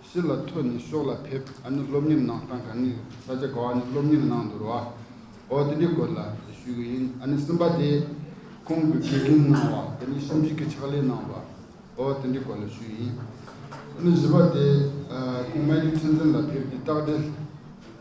ཤི་ལ་ཐོ་ནི་ཤོག་ལ་ཕེབས་ཨ་ནི་སློབ་གཉེར་གནང་སྟངས་གང་ནི་ས་ཆ་གོ་ཨ་ནི་སློབ་གཉེར་གནང་འདུར་བ་ཨོ་དེ་འདྲའི་སྐོར་ལ་ཞུས་གི་ཡིན་ཨ་ནི་སེམས་པ་དེ་ཁོང་གི་དགེ་རྒན་གནང་བ་དེ་ནི་ཤམ་གཅིག་གི་ཕྱག་ལས་གནང་བ་ཨོ་དེ་འདྲའི་སྐོར་ལ་ཞུས་ཡིན་ཨ་ནི་བཞི་པ་དེ་ཁོང་མལ་ཡུལ་ཚན་ཚན་ལ་ཕེབས་ཏེ་བརྟག་འབྲེལ།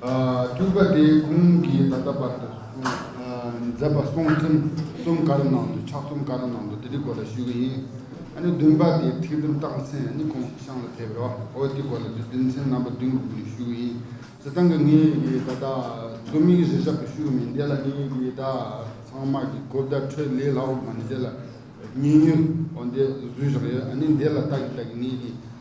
སྤྲུལ་པ་དེའི་ཁོང་གིས་ད་ལྟ་བར་དུ་མཛད་པ་སྲོང་བཙན་གསུམ་ག་རེ་ནང་དུ་ཕྱག་གསུམ་ག་རེ་ནང་དུ་དེ་རིགས་སྐོར་ལ་ཞུས་ཀྱི་ཡིན། ཨ་ནི་བདུན་པ་དེ་ཐེག་ཚུལ་རྟགས་མཚན་ནི་ཁོང་གི་ཤངས་ལ་ཕེབས་རོ་འོ་དེ་སྐོར་ལ་དེ་དོན་ཚན་རྣམ་པ་བདུན་གྱི་སྐོར་ནས་ཞུས་ཀྱི་ཡིན། ཟེར་སྟངས་ཀྱི་ངས་ཀྱི་ད་ལྟ་རྩོམ་ཡིག་རེ་ཞབས་ཏུ་ཞུས་ཀྱི་མིན་དེ་ལ་ངས་ཀྱི་ད་ཚང་མ་ཀྱི་གོ་བརྡ་འཕྲོད་ལེ་ལགས་འོ་མ་ནི་དེ་ལ་ཉེ་ཡོད་འོ་འདི་བཟོས་བཞག་ཡོད་ཨ་ནི་འདི་ལ་བལྟ་གི་བལྟ་གི་ངས་ཀྱི།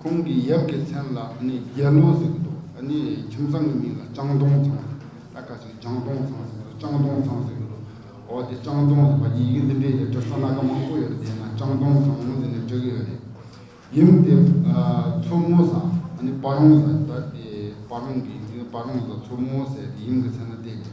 ཁོང་གི་ཡབ་ཀྱི་མཚན་ལ་ནི་རྒྱལ་ལོ་ཟེར་གྱི་འདུག་ད་ནི་ཁྱིམ་ཚང་གི་མིང་ལ་ལྕང་སྡོང་ཚང་ཟེར་ད་ག་ཚོད་ལྗང་སྡོང་ཚང་ཟེར་ཚོད་ལྕང་སྡོང་ཚང་ཟེར་གྱི་འདུག་འོ་དེ་ལྕང་སྡོང་ཟེར་བ་ཡི་གེ་འདི་འདྲའི་ཡ་བྲལ་ས་སྣ་ག་མང་པོ་ཡོད་དེ་ན་ལྕང་སྡོང་ཚང་ཟེར་ནས་བྲིས་གྱི་ཡོད་རེད། ཡུམ་དེ་མཚོ་མོ་བཟའ་ཨ་ནི་བ་རོང་བཟའ་ད་དེ་བ་རོང་གི་མིང་ལ་བ་རོང་བཟའ་མཚོ་མོ་ཟེར་ཡུམ་གྱི་མཚན་ལ་བསྡད་ཀྱི་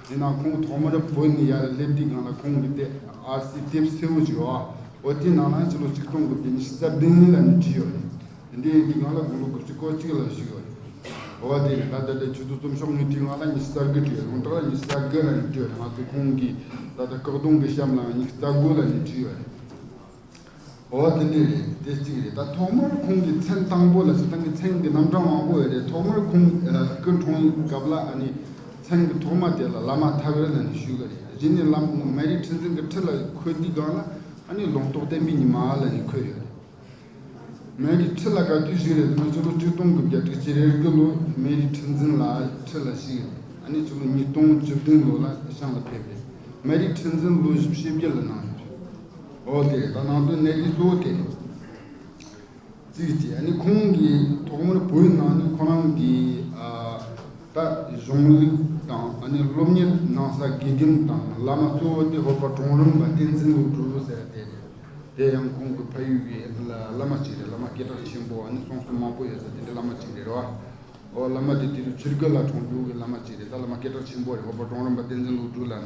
དེས་ན་ཁོང་ཐོག་མར་བོད་ནས་ཡར་སླེབས་དུས་གང་ལ་ཁོང་གི་ལྟེ་ཨར་སའི་དེབ་གསལ་བོ་ཞིག་ཨོ་དེའི་ནང་ན་ཕྱི་ལོ་ཆིག་སྟོང་དགུ་བརྒྱ་ཉི་ཤུ་རྩ་བདུན་ལ་ནས་བྲིས་ཡོད་རེད། དེ་འདྲའི་ཡི་གེ་གང་ལ་དགུང་ལོ་དགུ་བཅུ་གོ་གཅིག་ལ་བཞུགས་ཡོད་རེད། ཨོ་དེ་ནས་ད་ལྟ་ལས་ཆུ་ཚོད་རྩོམ་ཤོག་ངས་བྲིས་གང་ལ་ཉི་ཤུ་རྩ་དགུ་བྲིས་རོང་བྲག་ལ་ཉི་ཤུ་རྩ་བརྒྱད་ལ་ནས་བྲིས་ཡོད་རེད་ང་ཚོས་ཁོང་གིས་ད་ལྟ་སྐག་སྡོང་གི་གཤམ་ལའང་ཉི་ཤུ་རྩ་དགུ་ལ་ནས་བྲིས་ཡོད་རེད། ཨོ་ཨ་དེ་འདི་རེད་དེ་གཅིག་རེད་ད་ཐོག་མར་ཁོང་གི་མཚན་དང་པོ་ལ་བྱས་ཙང་གི་མཚན་གི་རྣམ་གྲངས་མང་པོ་ཡོད་རེད་ཐོག་མར་ཁོང་སྐུ་འཁྲུངས་ཡིན་སྐབས་ལ་ཨ་ནི་མཚན་གི་ཐོག་མ་དེ་ལ་བླ་མ་ཐར་བའི་ལ་ནི་ཞུས་ཀ་རེད་གཞི་ནས་བླ་མ་མེ་རི་ཁྲི་འཛིན་གི་ཁྲི་ལ་འཁོད་དུས་སྒང་ལ་ཨ་ནི་ལུང་རྟོགས་བསྟན་པའི་ཉི་མ་ལ་ནི་འཁོད་ཡོད་རེད། མེ་རི་ཁྲི་ལ་དགའ་དུས་ཞིག་རེད་དེ་ནི་ཕྱི་ལོ་བཅུ་སྟོང་དགུ་བརྒྱ་དྲུག་ཅུ་རེར་སྐུ་ལོ་མེ་རི་ཁྲི་འཛིན་ལ་ཁྲི་ལ་ཞིག་རེད་ཨ་ནི་ཕྱི་ལོ་ཉིས་སྟོང་བཅུ་བདུན་ལོ་ལ་ཤང་ལ་ཕེབས་རེད་མེ་རི་ཁྲི་འཛིན་ལོ་བཞི་བཞི་བརྒྱད་ལ་གནང་ཡོད་རེད། འོག་དེ་དང་ནང་དོན་གནད་ཀྱི་གཙོ་བོ་དེ་རྩིས་ཏེ་ནི་ཁོང་གིས་ཐོག་མར་བོད་ནང་ནས་ཁོ་རང་གི་ད་གཞུང་ལུགས་དང་སློབ་གཉེར་གནང་ས་དགེ་འདུན་དང་བླ་མ་གཙོ་བོ་དེ་ཧོར་པ་གྲོང་རིམ་པ་བསྟན་འཛིན་དབུ་གྲུབ་ཟེར་དེ་རེད། དེ་ཡང་ཁོང་གི་ཕ་ཡུལ་གྱི་བླ་མ་ཅིག་རེད་བླ་མ་སྐད་གྲགས་ཆེན་པོ་ནི་སོང་སོང་མང་པོ་ཡོད་ས་དེ་འདྲའི་བླ་མ་ཅིག་རེད་རོ། འོ་བླ་མ་དེ་དུས་ཆུ་རྒོད་ལ་གྲོང་རྒྱུག་གི་བླ་མ་ཅིག་རེད་ད་བླ་མ་སྐད་གྲགས་ཆེན་པོ་རེད་ཧོར་པ་གྲོང་རིམ་པ་བསྟན་འཛིན་དབུ་གྲུབ་ལ་ན་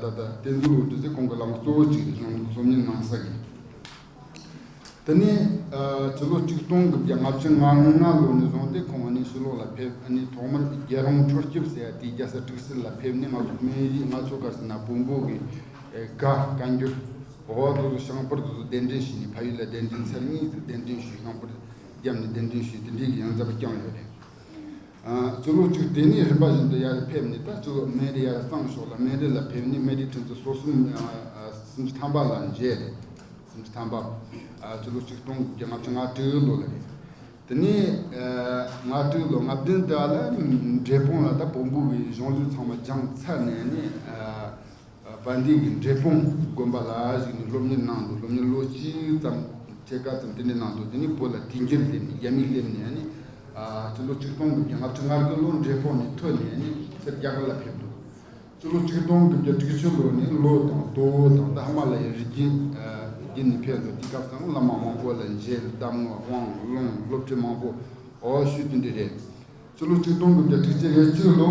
ད་ལྟ་བསྟན་འཛིན་འོད་དུ་ཚེ་ཁོང་གི་ལག་ན་གཙོ་བོ་གཅིག་གནང་འདུག་སོམ་ཉི་གནང་ས་ཡིན། ད་ནི་དུས་ལོ་གཅིག་སྟོང་དགུ་བརྒྱ་ལྔ་བཅུ་ང་ལྔ་ལོ་ནས་བཟུང་སྟེ་ཁོང་ཨ་ནི་སྲིད་ལོག་ལ་ཕེབས་ཨ་ནི་ཐོག་མར་རྒྱལ་རོང་འཕྲོ་སྐྱིབས་ཟེར་ཡ་དེའི་རྒྱ་ས་ཀྲིག་སི་ལ་ཕེབས་ནས་ང་ཚོ་སྨན་རིའི་ལྔ་མཆོད་སྒར་སི་ན་བོན་པོ་གི་དགའ་བཀའ་འགྱུར་འོ་བ་དོ་དོ་ཤངས་པར་དོ་དོ་གདན་འདྲེན་བྱས་ནས་ཕ་ཡུལ་ལ་གདན་འདྲེན་ཚར་གཉིས་ཚར་གདན་འདྲེན་ཞུས་ཤངས་པར་བརྒྱབ་ནས་གདན་འདྲེན་ཞུས་དེ་འདྲའི་ཡོན་རྫབ་བསྐྱངས་ཡོད་རེད། ཆུ་ལོག་བཅུ་དེ་ནི་རིམ་པ་བཞིན་དུ་ཡར་རེ་ཕེབས་ནས་ད་ཆུ་ལོག་སྨད་རི་ཡར་བརྩམས་ཤོག་ལ་སྨད་རི་ལ་ཕེབས་ནས་སྨད་རིའི་ཕྲན་ཚེགས་སོ་གསུམ་སུམ་ཅུ་ཐམ་པ་ལ་མཇལ། སུམ་ཅུ་ཐམ་པ། ཆུ་ལོག་ཆིག་སྟོང་དགུ་བརྒྱ་ལྔ་བཅུ་ང་དྲུག་ལོ་ལ་རེད། དེ་ནས་ང་དྲུག་ལོ་ང་བདུན་དེ་ལ་འབྲས་སྤུངས་ལ་ད་བོང་བུ་བའི་གཞུང་ལུས་ཚང་མ་སྦྱངས་ཚར་ནས་ནས། པ་འདི་ནི་འབྲས་སྤུངས་དགོན་པ་ལ་གཞིགས་ནས་སློབ་གཉེར་གནང་འདུག་སློབ་གཉེར་ལོ་གཅིག་ཙམ་ཕྱེད་ཀ་ཙམ་དེ་འདྲ་གནང་འདུག་དེ་ནས་བོད་ལ་དུས་འགྱུར་སླེབས་ནས་རྒྱ་མི་སླེབས་ནས་ནི་སྤྱི་ལོ་ཆིག་སྟོང་དགུ་བརྒྱ་ང་ཕྲག་ལྔར་སྐུ་ལོ་འབྲས་སྤུངས་ནས་ཐོན་ནས་ནི་སེར་སྐྱ་བར་ལ་ཕེབས་འདུག་སྤྱི་ལོ་ཆིག་སྟོང་དགུ་བརྒྱ་དྲུག་ཅུ་ལོར་ནི་ལོ་དང་སྟོད་འོལ་དང་ཏཱ་མ་ལ་ཡའི་རི་རྒྱུད་བརྒྱུད་ནས་ཕེབས་འདུག་དེ་སྐབས་སམ་བླ་མ་མང་པོ་ལ་མཇལ་གདམས་ངག་དབང་བློན་སློབ་ཁྲི་མང་པོ་འོ་ཞུས་དེ་འདྲ་རེད། སྤྱི་ལོ་ཆིག་སྟོང་དགུ་བརྒྱ་དྲུག་ཅུ་ཡས་བཅུ་ལོ།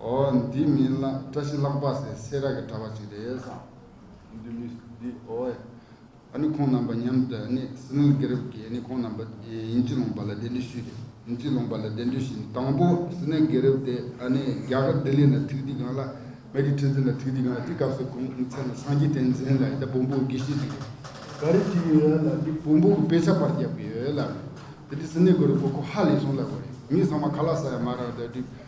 ཨོ། འདི་མི་ལ་བཀྲ་ཤིས་ལྷག་པ་ཟེར་སེ་ར་གི་གྲྭ་བ་ཞིག་རེད་བསམ། འདི་མི་འདི་ཨོ། ཨ་ནི་ཁོང་རྣམ་པ་མཉམ་དུ་ཨ་ནི་སི་ནུལ་དགེ་རབ་ཀྱིས་ཨ་ནི་ཁོང་རྣམ་པ་དབྱིན་ཇི་ལོངས་པ་ལ་གདན་འདྲེན་ཞུས་ཏེ་དབྱིན་ཇི་ལོངས་པ་ལ་གདན་འདྲེན་ཞུས་ནས་དང་པོ་སི་ནུལ་དགེ་རབ་དེ་ཨ་ནི་རྒྱ་གར་ལྡི་ལི་ལ་ཐུགས་དེ་གང་ལ་མེ་རི་ཁྲི་འཛིན་ལ་ཐུགས་དེ་གང་དེ་སྐབས་སུ་ཁོང་ཚེ་ན་སངས་རྒྱས་བསྟན་འཛིན་ལ་ཡི་དྭགས་བོང་བུ་དགེ་བཤེས་ཅིག་རེད། ག་རེ་བྱེད་ཀྱི་ཡོད་ལབ་དུས་བོང་བུ་གི་དཔེ་ཆ་པར་བརྒྱབ་ཀྱི་ཡོད་ལབ་ནས་དེ་དུས་སི་ནུལ་དགེ་རབ་ཁོ་ཁོ་ཧ་ལས་སོང་ལབ་པ་རེད་མི་ཚང་མ་ག་ལ་ས་ཡ་མ་རག་ད་དུས་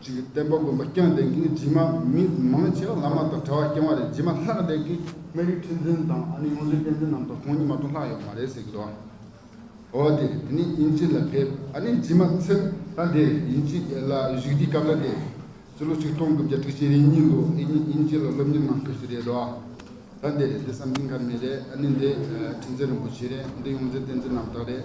གཅིག་གིས་བསྟན་པ་མགོན་པོ་སྐྱོང་ལྡན་གྱིས་རྗེས་མ་མི་མང་ཆེ་བ་བླ་མ་དང་གྲྭ་བ་སྐྱོང་བ་རེད་རྗེས་མ་ལྷག་ལྡན་གྱིས་སྨན་རིའི་ཁྲི་འཛིན་དང་ཨ་ནེ་ཡོངས་འཛིན་བསྟན་འཛིན་རྣམས་དང་ཁོང་གཉིས་མ་གཏོགས་ལྷག་ཡོད་མ་རེད་ཟེར་གྱི་འདུག་ཨ་འོ་དེ་ནི་དབྱིན་ཇི་ལ་ཕེབས་ཨ་ནེ་རྗེས་མ་ཚེ་ལྷ་འདིར་དབྱིན་ཇི་ལ་བཞུགས་དུས་སྐབས་ལ་འདས་ཚེ་ལོ་ཆིག་སྟོང་དགུ་བརྒྱ་དྲུག་ཅེ་རེ་གཉིས་ལོ་ཨེ་ཉིས་དབྱིན་ཇི་ལ་སློབ་གཉེར་གནང་ཕེབས་སུ་རེད་འདུག་ལྷ་འདི་རེད་འདི་བསམ་སྡིངས་མཁར་མི་རེད་ཨ་ནེ་འདི་ཁྲི་འཛིན་རིན་པོ་ཆེ་རེད་འདི་ཡོངས་འཛིན་བསྟན་འཛིན་རྣམས་དག་རེད།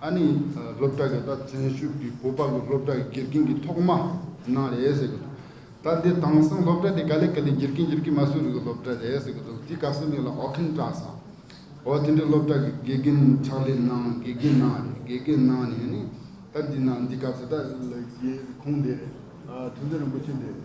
ཨ་ནི་སློབ་གྲྭ་གི་ད་བཙན་ཤུགས་ཀྱིས་བོད་པ་ལོ་སློབ་གྲྭ་དགེ་རྒན་གྱི་ཐོག་མ་གནང་རེད་ཟེར་གྱི་འདུག་ད་འདི་དྭངས་སང་སློབ་གྲྭ་དེ་ག་ལེ་ག་ལེ་འགྱུར་གྱིན་འགྱུར་གྱིན་མ་སུ་རི་གི་སློབ་གྲྭ་རེད་ཟེར་གྱི་འདུག་འདི་ག་སུ་ནི་ལ་ཨོ་ཁིན་བཀྲ་སང་འོ་དེ་འདྲའི་སློབ་གྲྭ་གི་དགེ་རྒན་ཕྱག་ལས་གནང་དགེ་རྒན་གནང་རེད་དགེ་རྒན་གནང་ནས་ནི་ད་འདི་ན་འདི་ག་སུ་ད་ཁུངས་འདི་རེད་ཐུན་ཚོད་རིན་པོ་ཆེ་འདི་རེད།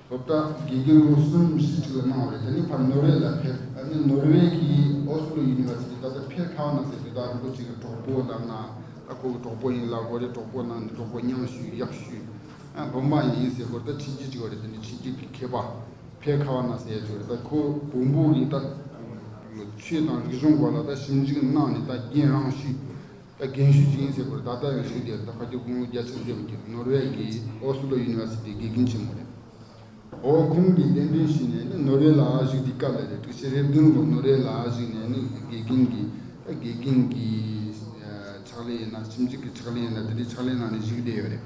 དོ་བདག་དགེ་རྒན་ལོ་གསུམ་བཞི་གཅིག་ལ་གནང་བ་རེད་དེ་ནས་ཕར་ནོར་ཝེ་ལ་ཕེབས་ཨ་ནི་ནོར་ཝེ་གི་ཨོ་སི་ལོ་ཡུ་ནི་བར་སི་ཏི་ད་ལྟ་ཕེབས་ལྷག་གནང་ཚེ་དོ་བདག་རིན་པོ་ཆེ་གི་གྲོགས་པོ་ལབ་ན་ཨ་ཁོ་གི་གྲོགས་པོ་ཡིན་ལགས་གོ་རེ་གྲོགས་པོ་གནང་ནས་གྲོགས་པོ་མཉམ་ཞུས་གཡག་ཞུས་ཨ་བུ་འབངས་ཡིན་ཟེར་གོ་རེ་ད་ཁྲིད་རྒྱུ་གཅིག་བ་རེད་དེ་ནས་ཁྲིད་རྒྱུ་གི་མཁས་པ་ཕེ་ཁ་བ་ན་ཟེར་གོ་རེ་ད་ཁོ་བུ་འབུ་གི་ད་ཆོས་དང་རིག་གཞུང་སྐོར་ལ་ད་ཞིབ་འཇུག་གནང་ནས་ད་རྒན་རང་ཞུས། ད་རྒན་ཞུས་ཅིང་ཟེར་བར་ད་ལྟ་ཡང་ཞུས་དེ་ད་ཁ་སྐྱོ་ཁུང་བུ་བརྒྱ་ཆ་བརྒྱད་ཀྱིས་ནོར་ཝེ་ཀྱི་ཨོ་སི་ལོ་ཡུ་ནི་ཝར་སི་ཏིའི་དགེ་རྒན་ཆེན་མོ་རེད། འོ་ཁོང་གིས་གདན་འདྲེན་ཞུས་ནས་ནི་ནོར་ཝེ་ལ་བཞུགས་ཏེ་སྐབས་ལ་རེ་དྲུག་ཕྱེད་རེ་བདུན་ལོ་ནོར་ཝེ་ལ་བཞུགས་ནས་ནི་དགེ་རྒན་གྱི་ད་དགེ་རྒན་གྱི་ཕྱག་ལེན་ཡིན་ན་ཁྱིམ་གཅིག་གི་ཕྱག་ལེན་ཡིན་ན་དེ་འདྲའི་ཕྱག་ལེན་ནང་ནས་བཞུགས་བསྡད་ཡོད་རེད།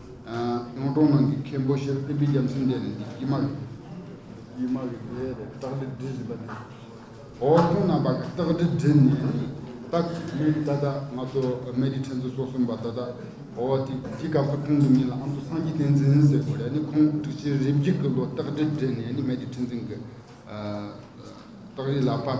གཡུང་དྲུང་ནང་གི་མཁན་པོ་ཤེར་དཔལ་སྤྲིན་རྒྱམ་སེང་གེ་ནི་འདི་ཀྱི་མ་རེད། ཀྱི་མ་རེད་ཀྱི་རེད་སྟག་སྒྲིལ་སྒྲིལ་བཞིན་པ་ནི། ཨོ་ཁྱུང་རྣམ་པ་གི་སྟག་སྒྲིལ་སྒྲིལ་ནི། སྟག་མི་ད་ད་ང་ཚོ་མེ་རི་ཕྲན་ཚུན་སོ་གསུམ་པ་ད་ད། ཨོ་དེ་དེ་སྐབས་སུ་ཁོང་གི་མིང་ལ་ཨ་མདོ་སངས་རྒྱས་བསྟན་འཛིན་ཟེར་དགོས་རེད་ནི་ཁོང་སྒྲིག་ཆེན་རིམ་གྱིས་ཀྱི་ལོ་སྟག་སྒྲིལ་སྒྲིལ་ནི་ནི་མེ་རི་ཕྲན་ཚུན་གི། སྟག་རི་ལ་དཔའ།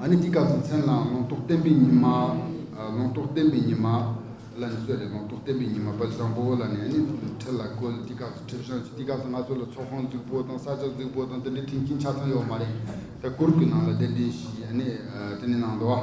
ཨ་ནི་འདི་སྐབས་སུ་མཚན་བླངས་ལུང་རྟོགས་བསྟན་པའི་ཉི་མ། ལུང་རྟོགས་བསྟན་པའི་ཉི་མ། ལ་ནི་གསོལ་ཏེ་ལུང་རྟོགས་བསྟན་པའི་ཉི་མ་དཔལ་བཟང་པོ་ལ་ནི་ཨ་ནི་ཁྲི་ལ་བཀོད་འདི་སྐབས་སུ་ཁྲི་བྱང་ཆུབ་འདི་སྐབས་སུ་ང་ཚོ་ལ་ཚོགས་ཁང་རྫིག་པོ་དང་ས་ཆ་རྫིག་པོ་དང་དེ་འདྲའི་མཐུན་རྐྱེན་ཆ་ཚང་ཡོད་མ་རེད་ད་གུར་གྱི་ནང་ལ་གདན་འདྲེན་ཞིག་ཨ་ནི་དེ་ནི་ནང་དུ་ཨ།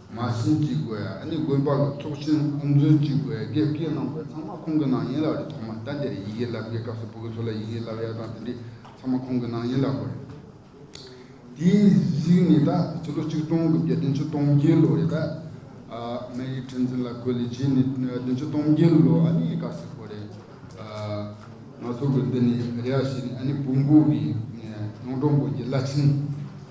མ་ཟིན་ཅིག་དགོས་ཡ་ཨ་ནི་དགོན་པ་ལ་ཚོགས་ཆེན་དབུ་འཛུལ་ཅིག་དགོས་ཡ་རྒྱལ་བཀས་གནང་བས་ཚང་མ་ཁོང་གི་ནང་ཡིན་ལབ་རེད་ཐོག་མར་ཟླ་འདིར་ཡི་གེ་ལབ་དགོས་སྐབས་སུ་བུ་གུ་ཚོ་ལ་ཡི་གེ་ལབ་ཡ་དང་དེ་འདྲས་ཚང་མ་ཁོང་གི་ནང་ཡིན་ལབ་དགོས་རེད། དེའི་གཞིགས་ནས་ད་ཕྱི་ལོ་ཆིག་སྟོང་དགུ་བརྒྱ་བདུན་ཅུ་སྟོང་བརྒྱད་ལོ་རེད་ད། མེ་རི་ཁྲི་འཛིན་ལ་གོ་ལི་བྱས་ནས་བདུན་ཅུ་སྟོང་བརྒྱད་ལོ་ཨ་ནི་སྐར་ཚིག་གོ་རེད། ང་ཚོ་གི་འདི་ནས་རེ་བ་བྱས་ནས་ཨ་ནི་བུ་འགུགས་གི་ཡོངས་གྲོང་དགོན་གྱི་བླ་ཆེན།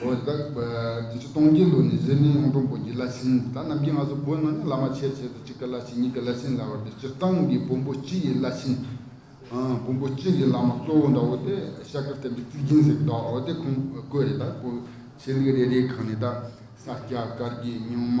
འོད་དཔག། བརྒྱད་ཅུ་སྟོང་བརྒྱད་ལོ་ནས་གཟེར་ནི་གཡུང་དྲུང་བོན་གྱི་བླ་ཆེན་དང་རྣམ་རྒྱལ་སྔགས་སོགས་བོན་ནང་ནས་བླ་མ་ཆེར་བྱས་ཏེ་གཅིག་གི་བླ་ཆེན་གཉིས་ཀྱི་བླ་ཆེན་ལ་བར་དུ་སྤྱིར་བཏང་གི་བོན་པོ་སྤྱི་ཡི་བླ་ཆེན། བོན་པོ་སྤྱི་ཡི་བླ་མ་གཙོ་བོ་འདྲ་བོ་སྟེ་ཤཱཀྱ་བསྟན་པའི་གཙིགས་ཆེན་ཟེར་བའི་བདག་བོ་དེ་ཁོང་བཀོད་རེད་ད་བོད་ཆས་རིགས་རེ་རེའི་གང་ནས་ད་ས་སྐྱ་དཀར་རྒྱལ་སྨྱོན་མ།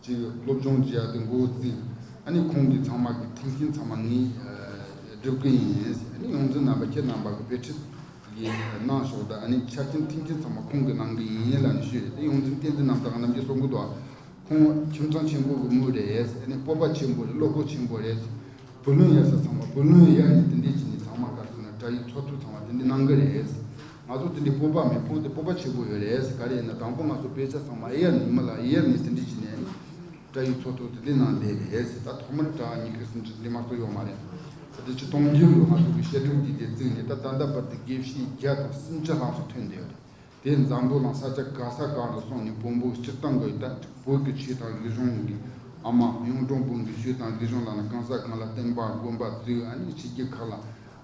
ཅིག་སློབ་སྦྱོང་བྱེད་ཡག་དུ་འགོ་བརྩིས། ཨ་ནི་ཁོང་གི་ཚང་མ་གི་ཐུགས་ཞེན་ཚང་མ་ནི་སྒྲུབ་གི་ཡིན། ཨ་ནི་ཡོངས་འཛིན་རྣམ་པ་ཁྱེད་རྣམ་པ་གི་དཔེ་ཁྲིད་གི་གནང་ཞོག་དང་ཨ་ནི་ཆ་རྐྱེན་མཐིང་ཆེན་ཚང་མ་ཁོང་གི་གནང་གི་ཡིན་ལ་ནི་ཞུས་ཏེ་ཡོངས་འཛིན་བསྟན་འཛིན་རྣམ་དག་རྣམ་རྒྱལ་སོགས་འགུ་དོ། ཁོང་ཁྱིམ་ཚང་ཆེན་པོ་གི་དམུ་རེད་ཨ་ནི་སྤོབས་པ་ཆེན་པོ་རེད་བློ་སྒོ་ཆེན་པོ་རེད། བུ་ལོན་ཡར་ས་ཚང་མ་བུ་ལོན་ཡར་ནི་དེ་འདྲས་ཀྱི་ནི་ཚང་མ་ག་ཚོད་ན་དགྲ་ཡི་ཚོགས་གཙོ་ཚང་མ་དེ་འདྲས་གནང་གི་རེད། ང་ཚོ་འདི་ནས་སྤོབས་པ་མེད་ཕོངས་ཏེ་སྤོབས་པ་ཆེ་པོ་ཡོད་རེད་ག་རེ་ཡིན་ན་དང་པོ་ང་ཚོ་དཔེ་ཆ་ཚང་མ་ཨེ་ཡར་ནས་ཉི་མ་ལ་ཨེ་ཡར་ནས་ཟིན་བྲིས་བྱེད་ནས་སྐྲ་ཡུལ་ཚོ་ཐོག་ཏུ་དེ་ནང་བསྡད་རེད་ད་ཐོག་མར་དྲ་གཉིས་ཀྱི་ཟིན་བྲིས་འདི་མ་གཏོགས་ཡོག་མ་རེད་ད་དེ་ཕྱི་གཏོང་རྒྱུ་ཡོག་ང་ཚོ་གི་བཤད་སྒྲུབ་ཀྱི་དེ་རྩིག་ནས་ད་ད་ལྟ་བར་དུ་དགེ་བཤེས་བརྒྱ་དང་སུམ་བརྒྱ་ལྷག་སུ་ཐོན་འདོད་དེ་འཛམ་བུ་གླང་ས་ཆ་ག་ས་གང་དུ་སོང་ནས་བོང་བུ་སྤྱིར་བཏང་གི་ལྟ་བུ་གི་ཆོས་དང་རིག་གཞུང་གི་ཨ་མ་གཡུང་དྲུང་བོན་གྱི་ཆོས་དང་རིག་གཞུང་ལ་ན་གང་ས་གང་ལ་བསྟན་པ་དགོན་པ་བཙུགས་ཨ་ནི་བྱེས་ཀྱི་ཁག་ལ་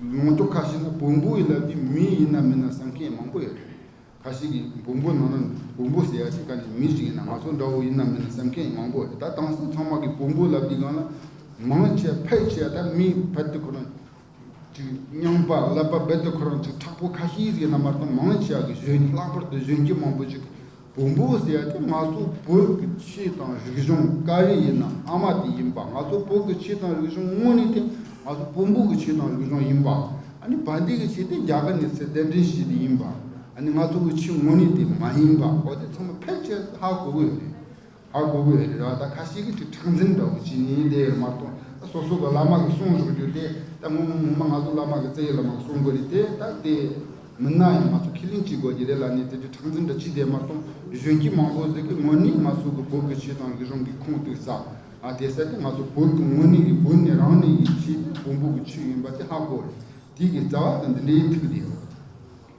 མང་ཚོགས་ཁ་ཤས་ན་བོང་བུ་ཡི་ལབ་ཀྱི་མི་ཡིན་ནམ་མིན་ནམ་བསམ་མཁན་མང་པོ་ཡོད་རེད། ཁ་ཤས་ཀྱིས་བོང་བུ་ནང་ན་བོང་བུ་ཟེར་ཡ་ཞིག་ག་ནས་མི་ཞིག་ཡིན་ན་ང་ཚོ་འདྲ་བོ་ཡིན་ནམ་མིན་ནམ་བསམ་མཁན་མང་པོ་རེད་ད་དྭངས་གསལ་ཚང་མ་གིས་བོང་བུ་ལབ་ཀྱི་སྒང་ལ་མང་ཆེ་ཕལ་ཆེ་ད་མི་བལ་དུ་ཁོ་རང་གིས་རྙང་པ་ལབ་པ་བལ་དུ་ཁོ་རང་གིས་དྲག་པོ་ཁ་ཤས་ཀྱིས་ན་མ་གཏོགས་མང་ཆེ་བ་གིས་གཞོན་སྐྱེས་ལྷག་པར་དུ་གཞོན་སྐྱེས་མང་པོ་ཞིག་གིས་བུ་འབུ་ཟེར་ཡ་དེ་ང་ཚོ་བོད་ཀྱི་ཆེས་དང་རིག་གཞུང་དཀའ་རིགས་ཡིན་ན་ཨ་མ་དེ་ཡིན་པ་ང་ཚོ་བོད་ཀྱི་ཆེས་དང་རིག་གཞུང་དངོས་ནི་དེ་ང་ཚོ་བུ་འབུ་གི་ཆེས་དང་རིག་གཞུང་ཡིན་པ་ཨ་ནི་བ་འདི་གི་ཆེས་དེ་རྒྱ་གར་ནས་ཚེ་བསྟན་འབྲིང་ཞེས་དེ་ཡིན་པ་ཨ་ནི་ང་ཚོ་གི་ཆེས་དངོས་ནི་དེ་མ་ཡིན་པ་འོ་དེ་ཚང་མ་ཕལ་ཆེར་ཧ་གོ་གི་ཡོད་རེད་ཨ་དགུ་བའི་རིག་ར་ད་ཁ་ཤས་ཀྱི་ཁྲི་ཁྲག་འཛིན་འདྲ་བོ་ཅི་ནི་དེ་ཡོད་མ་གཏོགས་ད་སོ་སོ་གི་བླ་མ་གི་གསུང་རོགས་རྒྱུ་དེ་ད་ངོ་མ་ངོ་མ་ང་ཚོ་བླ་མ་གི་བཙན་ཡོད་བླ་མ་གི་གསུང་དགོས་རིག་དེ་ད་དེ་མིན་ན་ཡང་ང་ཚོ་ཁས་ལེན་ཅི་དགོས་ཀྱི་རེད་ལ་ནི་དེ་ཁྲི་ཁྲག་འཛིན་འདྲ་ཅི་དེ་མ་གཏོགས་གཞོན་སྐྱེས་མང་པོ་ཟེར་གི་ངོ་ནི་ང་ཚོ་གི་བོད་ཀྱི་ཆོས་དང་ལི་རོང་གི་ཁུངས་གཏུགས་ས་ཨ་དེ་ས་དེ་ང་ཚོ་བོད་ཀྱི་ངོ་ནི་གི་བོད་ནི་རང་ནི་གི་ཆོས་དེ་བོང་བུ་གི་ཆོས་ཡིན་པ་དེ་ཧ་གོ་རེད་དེ་གི་རྩ་བ་ད་འདི་འདྲའི་ཐུགས་དེ་ཡོད།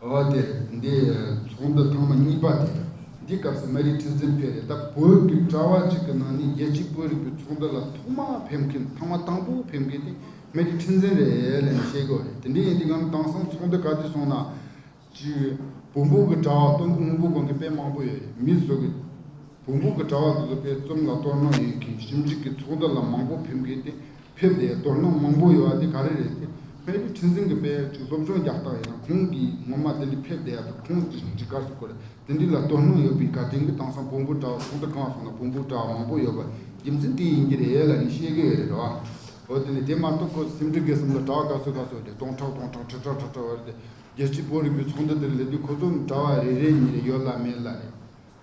ཨོ་དེ་འདི་ཚོགས་འདུ་ཐང་མ་གཉིས་པ་དེ་འདི་སྐབས་སུ་མ་རིག་ཁྲི་འཛིན་ཕེབས་རེད་ད་བོད་རྒྱུད་གྲྭ་བ་གཅིག་གི་ནང་ནས་རྒྱལ་སྤྱིའི་བོད་རིག་པའི་ཚོགས་འདུ་ལ་ཐོག་མ་ཕེབས་མཁན་ཐང་མ་དང་པོ་ཕེབས་མཁན་དེ་མ་རིག་ཁྲི་འཛིན་རེད་ལན་བཤད་གི་རེད་དེ་འདྲ་ཡིན་དུས་ངམ་དྭངས་སང་ཚོགས་འདུ་ག་དུས་སོང་ན་ཅི་བོད་འབུག་གི་གྲྭ་བ་སྟོང་དགུ་དངུ་གུ་གོང་གི་དཔེ་མང་པོ་ཡོད་རེད་མི་བཟོ་གི་བོད་འབུག་གི་གྲྭ་བ་དེ་ཚོ་དཔེ་རྩོམ་ལ་གཏོར་གནང་ཡོད་མཁན་ཞིབ་འཇུག་གི་ཚོགས་འདུ་ལ་མང་པོ་ཕེབས་མཁན་དེ་ཕེབས་ཏེ་རྡོར་སྣང་མང་པོ་ཡོད་འདི་ག་རེ་རེད་དེ་བོད་ཀྱི་འཕྲིན་ཟིང་གི་དཔེ་ཆུ་སློབ་སྦྱོང་རྒྱག་སྟངས་ཡིན་ན་ཁོང་གིས་ངོ་མ་དེ་འདྲི་ཕེབས་བསྡད་ཡག་འདུག་ཁོང་འདྲི་འདྲི་ག་ཟུག་གོ་རེ་དེ་འདྲི་ལ་རྡོར་སྣང་ཡོད་པའི་དགའ་ལྡན་གྱི་དྭངས་སང་བོང་བུ་འདྲ་བ་ཚོང་རྡ་གང་སོང་ན་བོང་བུ་འདྲ་བ་མང་པོ་ཡོད་པ་རྒྱུ་མཚན་དེ་ཡིན་གྱི་རེད་ལ་ནི་བཤད་གི་ཡོད་རེད་རོ་ཨོ་དེ་ནི་དེ་མ་གཏོགས་ཁོ་སེམས་འདྲི་གའི་སེམས་ལ་གྲགས་ག་ཚོད་ག་ཚོད་རེད་སྟོང་ཕྲག་སྟོང་ཕྲག་ཁྲི་ཕྲག་ཁྲི་ཕྲག་བ་རེད་དེ་རྒྱལ་སྤྱིའི་བོད་རིག་པའི་ཚོང་རྡ་དེར་ལས་དུས་ཁོ་ཚོ་འདྲ་བ་རེ་རེ་གཉིས་རེ་ཡོད་ལ་མེད་ལ་རེད།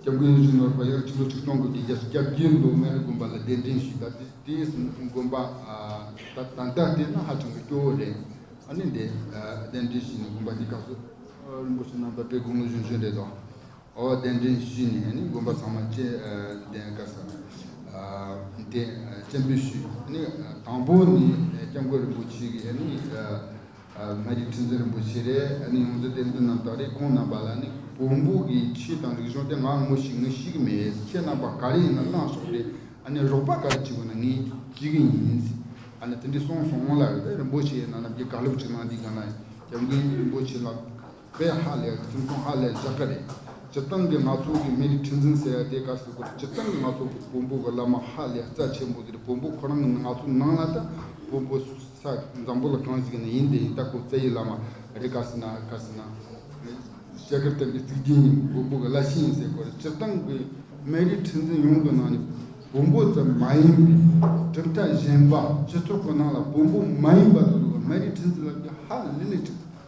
སྐྱབས་མགོན་གཞོན་ནུ་རུ་པ་ཡག་ཕྱི་ལོ་ཁྲི་སྟོང་དགུ་བརྒྱའི་རྒྱལ་ས་སྐྱབས་རྗེ་མདོ་སྨད་རི་དགོན་པ་ལ་གདན་འདྲེན་ཞུས་ད་ལྟའི་དགོན་པ་དང་སྟབས་བདེ་ན་ཧ་ཅང་གི་སྐྱོ་བོ་རེད་ཨ་ནི་འདས་གདན་འདྲེན་ཞུས་ནས་དགོན་པ་འདི་བཀག་སོ། རིན་པོ་ཆེ་རྣམ་པ་པའི་དགུང་ལོ་གཞོན་ཤོས་རེད་དོ། ཨོ་གདན་འདྲེན་ཞུས་ནས་ནི་དགོན་པ་ཚང་མ་བཅས་གདན་བཀག་ས། དེ་སྤྱན་འབུལ་ཞུས་ནི་དང་པོ་ནི་སྐྱབས་མགོན་རིན་པོ་ཆེ་གི་ནི། ང་ཡི་ཁྲི་འཛིན་རིན་པོ་ཆེ་རེད་ཨ་ནི་ཡོངས་འཛིན་བསྟན་འཛིན་རྣམ་དག་རེད་ཁོང་རྣམ་པ་ལ་ནི་བོང་བུ་གི་ཁྱི་དང་རིག་གཞུང་སྟེ་ང་ངུ་ཞིག་ངུ་ཞིག་མེད་ཁྱེད་རྣམ་པ་ག་རེ་ཡིན་ན་གནང་སོང་རེད་ཨ་ནི་རོགས་པ་ག་རེ་བྱེད་དགོས་ན་ངས་བྱེད་གི་ཡིན་ཨ་ནི་དེ་འདྲས་སོང་སོང་ལ་རིན་པོ་ཆེ་ནང་རྣམ་རྒྱལ་དགའ་ལུགས་ཅིག་གནང་འདི་ག་ན་རྒྱབ་འགན་རིན་པོ་ཆེ་ལགས། ཁོས་ཧ་ལས་ཁྱིམ་ཚང་ཧ་ལས་བཞག་གི་རེད། སྤྱིར་བཏང་གི་ནག་ཚོང་གི་མི་རིགས་ཁྲི་འཛིན་ཟེར་ཡ་དེ་ག་སུ་གུ་རེད་སྤྱིར་བཏང་གི་ནག་ཚོང་གི་བོན་པོ་གི་བླ་མ་ཧ་ལས་རྩ་ཆེན་པོ་དེ་རེད་བོན་པོ་ཁོ་རང་གི་ནག་ཚོང་ནང་ལ་ད་བོན་པོ་ས་འཛམ་བུ་ལ་གང་ཞིག་ནས་ཡིན་དེ་ཡིན་ད་ཁོ་རྩ་ཡི་བླ་མ་རེད་ག་སུ་ན་ག་སུ་ན། ཞལ་དཀར་བསྟན་པའི་གཙིགས་རྒྱན་ནི་བོན་པོ་གི་བླ་ཤིང་ཡིན་ཟེར་གོ་རེད་སྤྱིར་བཏང་གི་མི་རིགས་ཁྲི་འཛིན་ཡོངས་ཀྱི་ནང་ནས་བོན་པོ་ཙམ་མ་ཡིན་པའི་གྲུབ་མཐའ་གཞན་པ་སྤྱི་ཚོགས་ཀྱི་ནང་ལ་བོན་པོ་མ་ཡིན་པ་དག་ལ་མི་རིགས་ཁྲི་འཛིན་ལབ་རྒྱུ་ཧ་ལས་ལས་ཁྲི་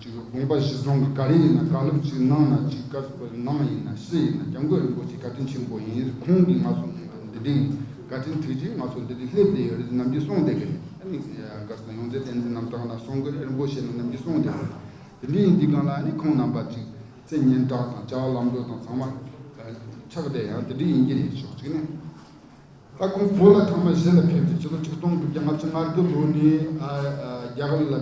དགོངས་པ་བཞི་བཟུང་གི་ག་རེ་ཡིན་ན་དགག་ལུགས་གཅིག་གནང་ན་གཅིག་བཀའ་ཟུར་པ་ནང་ཡིན་ན་ཕྱི་ཡིན་ན་རྒྱ་མགོས་རིན་པོ་ཆེ་བཀའ་དྲིན་ཆེན་པོ་ཡིན་རིགས་ཁོང་གིས་ང་ཚོ་འདི་དྲིན་བཀའ་དྲིན་དྲིལ་རྗེས་ང་ཚོ་འདི་དྲིན་སླེབས་བསྡད་ཡོད་རེད་ནམ་གྱི་སོང་བསྡད་གི་རེད་དགའ་སང་ཡོངས་རྫས་བསྟན་འཛིན་རྣམ་གྲངས་ལ་སོང་གི་རེད་རིན་པོ་ཆེ་ནམ་གྱི་སོང་བསྡད་གི་རེད་དེ་འདྲའི་འདི་གང་ལ་ཁོང་རྣམ་པ་གཅིག་ཚེ་སྙན་གྲགས་དང་ལྕགས་ལམ་འགྲོ་དང་ཚང་མ་ཆགས་བསྡད་ཡང་དེ་འདྲའི་ཡིན་གྱི་རེད་ཕྱོགས་གཅིག་ནས། ལྷ་ཁུང་བོད་ལ་ཁང་པ་བཞི་ལ་ཕེབས་ཏེ་ཕྱི་ལོ་ཆིག་སྟོང་དགུ་བརྒྱ་ལྔ་བཅུ་ང་དགུ་ལོ་ནས་རྒྱ་གར་ལ་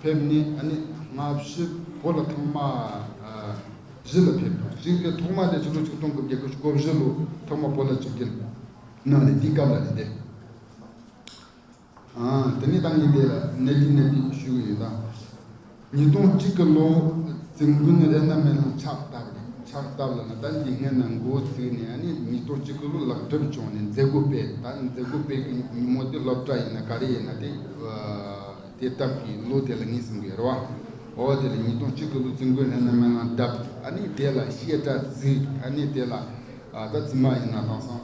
ཕེབས་ནས་སྔ་ཕྱི་བོད་ལ་ཁང་པ་བཞི་ལ་ཕེབས་དང་གཅིག་དེ་ཐོག་མ་དེ་ཕྱི་ལོ་ཆིག་སྟོང་དགུ་བརྒྱ་དགུ་ཅུ་གོ་བཞི་ལོ་ཐོག་མ་བོད་ལ་བྱུགས་རྒྱུ་གནང་ནས་དེའི་སྐབས་ལ་རེད་དེ། དེ་ནས་ཏང་གི་ལས་ལ་གནས་རྒྱུ་གནས་ཕིགས་ཞུས་ཀྱི་ཡོད། ཉིས་སྟོང་གཅིག་གི་ལོ་རྩིས་མགོན་རེ་ན་མེ་ལ་ཕྱག་བཏབ་རེད་ཕྱག་བཏབ་ལ་ན་ད་འདི་སྔའི་ནང་མགོ་བཙུགས་ནས་ཨ་ནི་ཉིས་སྟོང་གཅིག་གི་ལོ་ལག་སྒྲིབ་བྱུང་ནས་མཛད་སྒོ་སྤེལ་ད་མཛད་སྒོ་སྤེལ་གི་ཉིན་མོ་དེ་སློབ་གྲྭ་ཡིན་ན་ག་རེ་ཡིན་ན་དེ་སྟབས་ཀྱི་ལོ་དེ་ལ་ངས་གསུང་གི་རེད་བ། འོ་དེ་ལ་ཉིས་སྟོང་གཅིག་གི་ལོ་རྩིས་མགོན་རེ་ན་མེ་ལང་བཏབ་ཨ་ནི་དེ་ལ་བཤད་གྲྭ་བརྩིགས་ཨ་ནི་དེ་ལ་ད་བཙུན་མ་ཡིན་ན་དང་སང།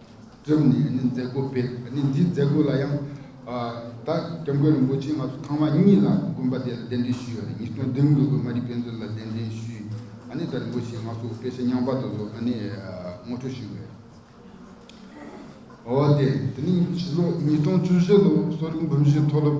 བཙུགས་ནས་ནི་མཛད་སྒོ་སྤེལ། ནི་འདིའི་མཛད་སྒོ་ལ་ཡང། བདག་རྒྱ་མགོན་རིན་པོ་ཆེ་སྔ་སོ་ཐང་བ་གཉིས་ལ་དགོན་པ་དེ་ལ་གདན་འདྲེན་ཞུས་པ་ནི་ཉིས་སྟོང་བདུན་དགུ་དགོན་མ་རི་དཔལ་མཛོད་ལ་གདན་འདྲེན་ཞུས། ནི་བདག་རིན་པོ་ཆེ་སྔ་སོ་དཔལ་ཤ་ཉང་བར་དུ་ཟོ། ནི་ངོ་སྤྲོད་ཞུས་པའི། འོ་དེ། དེ་ནི་ཕྱི་ལོ་ཉིས་སྟོང་བཅུ་བཞི་ལོ་གསོ་རིག་འབུམ་བཞི་མཐོ་སློབ།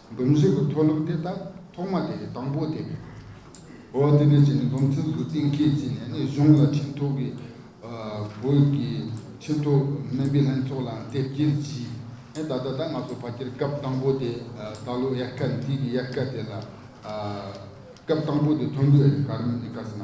སྡོམ་ཚིག་གི་མཐོ་སློབ་དེ་དག་ཐོག་མ་དེ་ཡི་དང་པོ་སྟེ། འོ་དེ་ནས་བྱས་ནས་སྡོམ་ཚིག་འདུལ་བསྟན་མཁས་བཙུན་ནས་ནི་གཞུང་ལ་ཁྲིམས་ཐོག་གི། བོད་ཀྱི་ཁྲིམས་ཐོག་སྨན་པའི་ལྷན་ཚོགས་ལའང་དེབ་སྐྱེལ་བགྱིས། ཨེ་ད་ལྟ་ད་ང་ཚོ་ཕ་ཁྱེར་སྐབས་དང་པོ་དེ་ད་ལོ་དབྱར་ཁ་འདི་གི་དབྱར་ཁ་དེ་ལ། སྐབས་དང་པོ་དེ་ཐོན་དགོས་ཨེ་ག་རེ་ནི་ག་ཟེར་ན།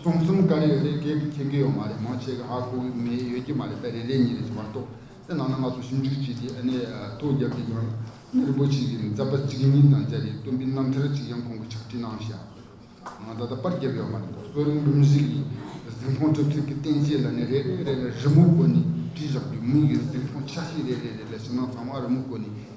གསུམ་གསུམ་དཀར་ཡོད་རེད་སྐད་མཁྱེན་གི་ཡོད་མ་རེད་མང་ཆེ་གི་ཨ་ཁུ་མེ་ཡོད་ཀྱི་མ་རེད་པེ་རེད་རེད་གཉིས་རེད་ཅེས་པར་གཏོགས་དེ་ནང་ན་ང་ཚོ་ཞིབ་འཇུག་བྱས་ཏེ་ཨ་ནེ་ཐུགས་རྒྱབ་ཀྱི་ཡང་སྙིང་རིན་པོ་ཆེ་གི་མཛད་པ་གཅིག་གཉིས་དང་བཅར་བའི་སྟོན་པའི་རྣམ་ཐར་གཅིག་ཡང་ཁོང་གི་ཕྱག་བྲིས་ནང་བཞག་ང་ད་ལྟ་པར་བརྒྱབ་ཡོད་མ་རེད་མདོ་སྟོད་རིང་འབུམ་གཞིས་ཀྱི་གཟིམ་ཁང་གྲུབ་ཚུལ་གྱི་བསྟན་བཅོས་ལ་ནི་རེ་རེ་ལ་རི་མོ་བཀོད་ནས་བྲིས་བཞག་རྒྱུ་མི་ཡོད་གཟིམ་ཁང་ཆ་ཤས་རེ་རེ་ལ་ཕྱི་ནང་ཚང་མ་རི་མོ་བཀོད་ནས་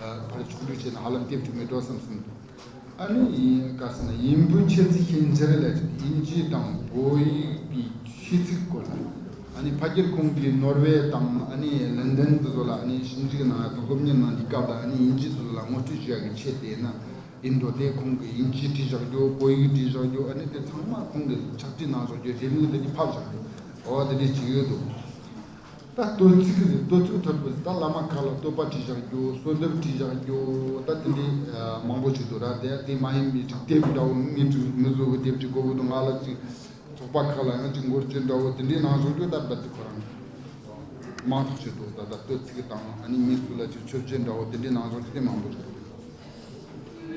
བར་བྱུང་འདུག་ཅེས་ན་ཧ་ལམ་སྐད་བསྒྱུར་མི་འགྲོ་བསམ་གསུངས་འདུག་ཨ་ནི་ཡིན་ག་ཟེར་ན་ཡིན་བུ་འཆད་ཚིག་ཤན་འབྱེད་ལས་དབྱིན་ཇི་དང་བོད་ཡིག་གི་ཤེས་ཚིག་སྐོར་ལ་ཨ་ནི་ཕ་ཁྱེར་ཁོང་གིས་ནོར་ཝེ་དང་ཨ་ནི་ལན་དན་དེ་ཚོ་ལ་ཨ་ནི་ཞིབ་འཇུག་གནང་ཡ་དང་སློབ་གཉེར་གནང་འདི་སྐབས་ལ་ཨ་ནི་དབྱིན་ཇི་དེ་ཚོ་ལ་ངོ་སྤྲོད་བྱེད་ཡ་གི་ཆེད་བལྟས་ན་ཡིན་འགྲོ་དེ་ཁོང་གིས་དབྱིན་ཇི་བྲིས་བཞག་རྒྱུ་བོད་ཡིག་བྲིས་བཞག་རྒྱུ་ཨ་ནི་དེ་ཚང་མ་ཁོང་གིས་ཕྱག་བྲིས་གནང་བཞག་རྒྱུ་རེ་མིག་ལ་ནི་ཕབ་བཞག་རྒྱུ་ཨོ་དེ་འདྲས་བྱེད་ཡོད་འདུག་ད་བསྟོད་ཚིག་གི་བསྟོད་ཚུལ་ཐོས་དགོས་ཟེར་ད་བླ་མ་ཁག་ལ་བསྟོད་པ་བྲིས་བཞག་རྒྱུ་གསོལ་འདེབས་བྲིས་བཞག་རྒྱུ་ད་དེ་འདྲའི་མང་པོ་བྱེད་དུ་ར་བསྡད་དེ་མ་ཡིན་མི་འགྲིག་དེབ་འདྲ་བོ་མི་འགྲིག་མི་བཟོ་གི་དེབ་ཅིག་དགོས་གི་འདུག་ང་ལ་ཅིག་ཚོགས་པ་ཁག་ལའང་ཅིག་འགོར་གྱི་འདྲ་བོ་དེ་འདྲའི་ནང་བཟོ་རྒྱུ་ད་བསྡད་དེ་ཁོ་རང་མང་དུ་བྱེད་དུ་ད་ད་བསྟོད་ཚིག་དང་ཨ་ནི་མི་སུ་ལ་ཅིག་མཆོད་བྱེད་འདྲ་བོ་དེ་འདྲའི་ནང་བཟོ་རྒྱུ་དེ་མང་པོ་བྱེད་དུ་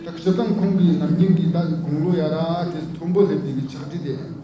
ད་ཁྱེད་རང་ཁོང་གི་ནམ་རྒྱུན་གྱི་ད་དགུང་ལོ་ཡ་ར་དེ་མཐོན་པོ་སླེབས་དུས་ཀྱི་ཕྱག་བྲིས་དེ།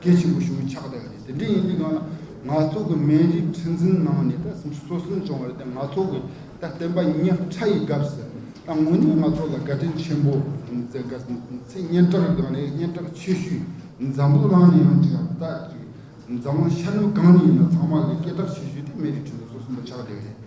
སྐད་ཆེན་པོ་ཞུ་བའི་ཕྱག་དེ་འདི་འདྲ་ཡིན་དུས་ང་ལ་ང་ཚོ་གི་མན་རིགས་ཁྲི་འཛིན་ནང་ནས་ད་སུམ་ཅུ་སོ་གསུམ་བྱུང་བ་རེད་དེ་ང་ཚོ་གི་ད་བསྟན་པ་ཉག་ཕྲ་ཡི་སྐབས་སུ་ད་དངོས་གནས་ང་ཚོ་ལ་དགའ་དྲིན་ཆེན་པོ་མཛད་དགའ་ཚེ་སྙན་གྲགས་དགའ་ནས་སྙན་གྲགས་ཆེ་ཤོས་འཛམ་བུ་གླང་ནས་ཡང་དྲན་ད་འཛམ་གླིང་ཤར་ནུབ་གང་ནས་ཡིན་ན་ཚང་མ་ལ་སྐད་གྲགས་ཆེ་ཤོས་དེ་མན་རིགས་ཁྲི་འཛིན་སོ་གསུམ་པ་ཕྱག་དེ་རེད།